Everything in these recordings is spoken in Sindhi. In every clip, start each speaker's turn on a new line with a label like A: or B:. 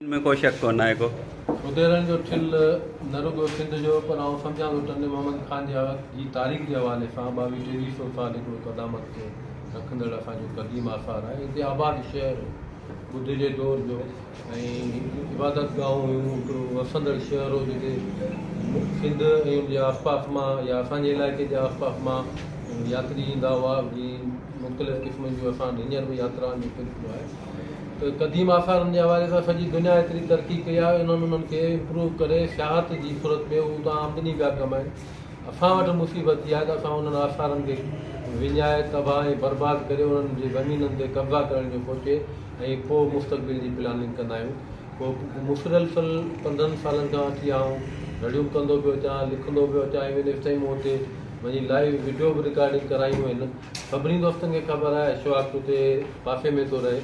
A: ان ۾ ڪو شڪ ڪونه آهي ڪو. ٻڌيرن جو
B: ٺل نه رڳو سنڌ جو پر آئون سمجهان ٿو ٽنڊي محمد خان جي وقت جي تاريخ جي حوالي سان ٻاويهه ٽيويهه سئو سال هڪڙو قدامت کي رکندڙ اسان جو قديم آثار آهي هتي آباد شهر ٻڌ جي دور جو ۽ عبادت گاهون هيون هڪڙو وسندڙ شهر هو جتي سنڌ ۽ ان جي آس پاس مان يا اسان جي علائقي جي آس پاس مان ياتري ايندا هئا جي مختلف قسمن جون اسان وٽ هينئر به ياترائن جو سلسلو آهي ته قديم آثارن جي حوالي سان سڄي دنيا ايتري ترقي ڪئي آهي انهن انهن کي امپروو ڪري سياحت جي صورت ۾ هو اتان آمدني پيا ڪمائين اسان وٽ مصيبت اها آهي ته اسان انهن آثارن کي وڃائي تباهه ۽ برباد ڪري انهن جي زمينن تي قبضا ڪرڻ جو سوچي ۽ پوء مستقبل جي پلاننگ ڪندا آهيون پوء مسلسل پندرهن سالن کان اچي آئون رڙيون ڪندو پيو اچان لکندو پيو اچان ايون ايستائين مون اتي وڃي لائيو وڊيو به رڪارڊنگ ڪرايون آهن سڀني دوستن کي خبر آهي اشواڪ اتي پاسي ۾ ٿو رهي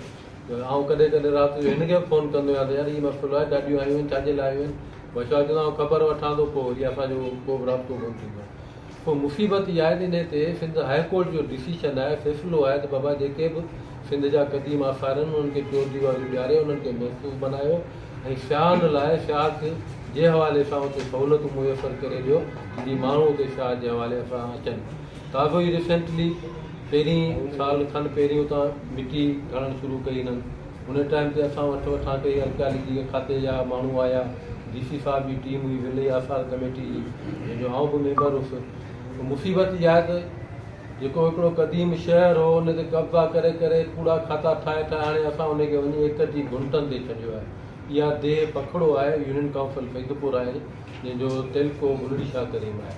B: ته آئون ڪڏهن ڪڏهن رات جو هن کي به فون ڪندو آهيان ته يار هي مسئلو آهي گاڏيون آيون آهن ڇاجي لاء آيون آهن پوء اشواڪ چوندو آهي آئون خبر وٺان ٿو پوء وري اسان جو ڪو به رابطو ڪونه ٿيندو آهي پوء مصيبت اها آهي ته انهي تي سنڌ هاء ڪورٽ جو ڊسيشن آهي فيصلو آهي ته بابا جيڪي به سنڌ جا قديم آثار آهن انهن کي چور ديواريون ڏياري انهن کي محفوظ بنايو ۽ سياحن لاء شاهه کي جي حوالي سان اتي سهولتون ميسر ڪري ڏيو جي ماڻهو اتي شاهه جي حوالي سان اچن ڪاوه ئي ريسينٽلي پهرين سال کن پهرين اتان مٽي کڻڻ شروع ڪئي هنن ان ٽائيم تي اسان وٺ وٺان ڪئي ارڪيالاجي کاتي جا ماڻهو آيا ڊي سي صاحب جي ٽيم هئي ولي آثار ڪميٽي جي جنهن جو آئون به ميمبر هوس ته مصيبت اها آهي ته جيڪو هڪڙو قديم شهر هو ان تي قبضا ڪري ڪري ڪوڙا کاتا ٺاهي ٺاهي هاڻي اسان ان کي وڃي ايڪڙ جي گهنٽن تي ڇڏيو آهي اها ديهه پکڙو آهي يونين ڪائونسل فيضپور آهي جنهن جو تعلقو بلڙي شاهه ڪريم آهي.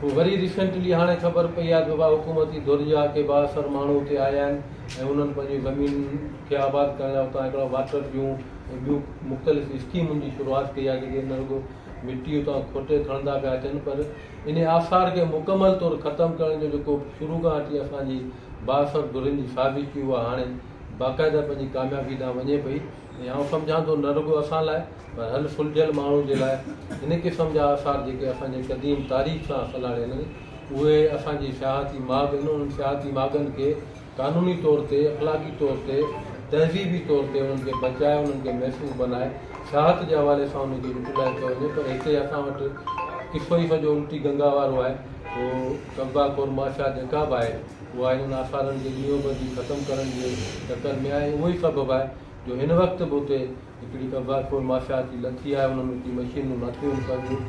B: پوء وري ريسينٽلي هاڻي خبر پئي آهي ته اها حڪومتي ڌر جا ڪي بااثر ماڻهو اتي آيا آهن ۽ انهن پنهنجيون زمينن کي آباد ڪرڻ لاء اتان هڪڙا واٽر جون ۽ ٻيون مختلف اسڪيمن جي شروعات ڪئي آهي جيڪي نه رڳو مٽي اتان کوٽي کڻندا پيا اچن پر انهي آثار کي مڪمل طور ختم ڪرڻ جو جيڪو شروع کان اچي اسان جي بااثر ڌرين جي سازش هئي اها هاڻي باقاعده پنهنجي ڪاميابي ڏانهن وڃي پئي. آئون سمجهان ٿو نه رڳو اسان لاء پر هر سلجهيل ماڻهو جي لاء هن قسم جا آثار جيڪي اسان جي قديم تاريخ سان سلهاڙيل آهن اهي اسان جي سياحتي ماڳ آهن انهن سياحتي ماڳن کي قانوني طور تي اخلاقي طور تي تهذيبي طور تي انهن کي بچائي انهن کي محفوظ بنائي سياحت جي حوالي سان انهن کي يوٽيلائز ڪيو وڃي پر هتي اسان وٽ قصو ئي سڄو الٽي گنگا وارو آهي سو قبضا خور معاشيات جيڪا به آهي اها هنن آثارن کي ڏينهون ٻڌي ختم ڪرڻ جي چڪر ۾ آهي ۽ اهو ئي سبب آهي جو هن وقت به اتي هڪڙي قبضا خور ماشياتي لٿي آهي انهن اتي مشينون ناکيون آهن پنهنجون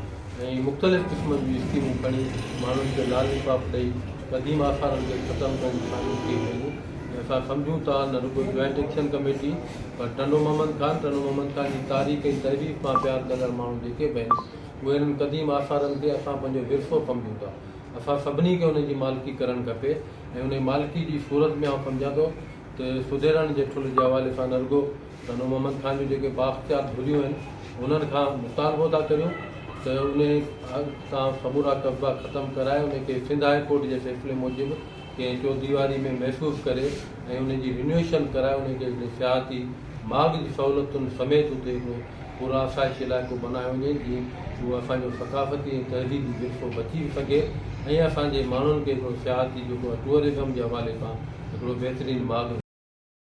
B: ۽ مختلف قسمن جون اسڪيمون کڻي ماڻهن کي لالي پاپ ڏئي قديم آثارن کي ختم ڪرڻ جي ڪاوش ڪئي پئي ۽ اسان سمجهون ٿا نه رڳو جوائنٽ ايڪشن ڪميٽي پر ٽنڊو محمد خان ٽنڊو محمد خان جي تاريخ ۽ تحرير سان پيار ڪندڙ ماڻهو جيڪي به آهن اهي هنن قديم آثارن کي اسان پنهنجو ورثو سمجهون ٿا. اسان سڀني کي ان جي مالڪي ڪرڻ کپي ۽ انهي مالڪي جي صورت ۾ آئون سمجهان ٿو ته سڌيرائڻ جي ٺل جي حوالي سان نه رڳو سانو محمد خان جون جيڪي بااختيار ڌريون آهن انهن کان مطالبو ٿا ڪريون ته انهي تان سمورا قبضا ختم ڪرائي انهي کي سنڌ هاء ڪورٽ جي فيصلي موجب ڪنهن چوديواري ۾ محفوظ ڪري ۽ ان جي رينويشن ڪرائي انهي کي هڪڙي سياحتي ماڳ جي سهولتن سميت اتي هڪڙو پرآسائشي علائقو بنايو وڃي جيئن اهو اسان جو ثقافتي ۽ تهذيبي ورثو بچي به سگهي ۽ اسان جي ماڻهن کي هڪڙو سياحتي جيڪو ٽوئرزم جي حوالي کان هڪڙو بهترين ماڳ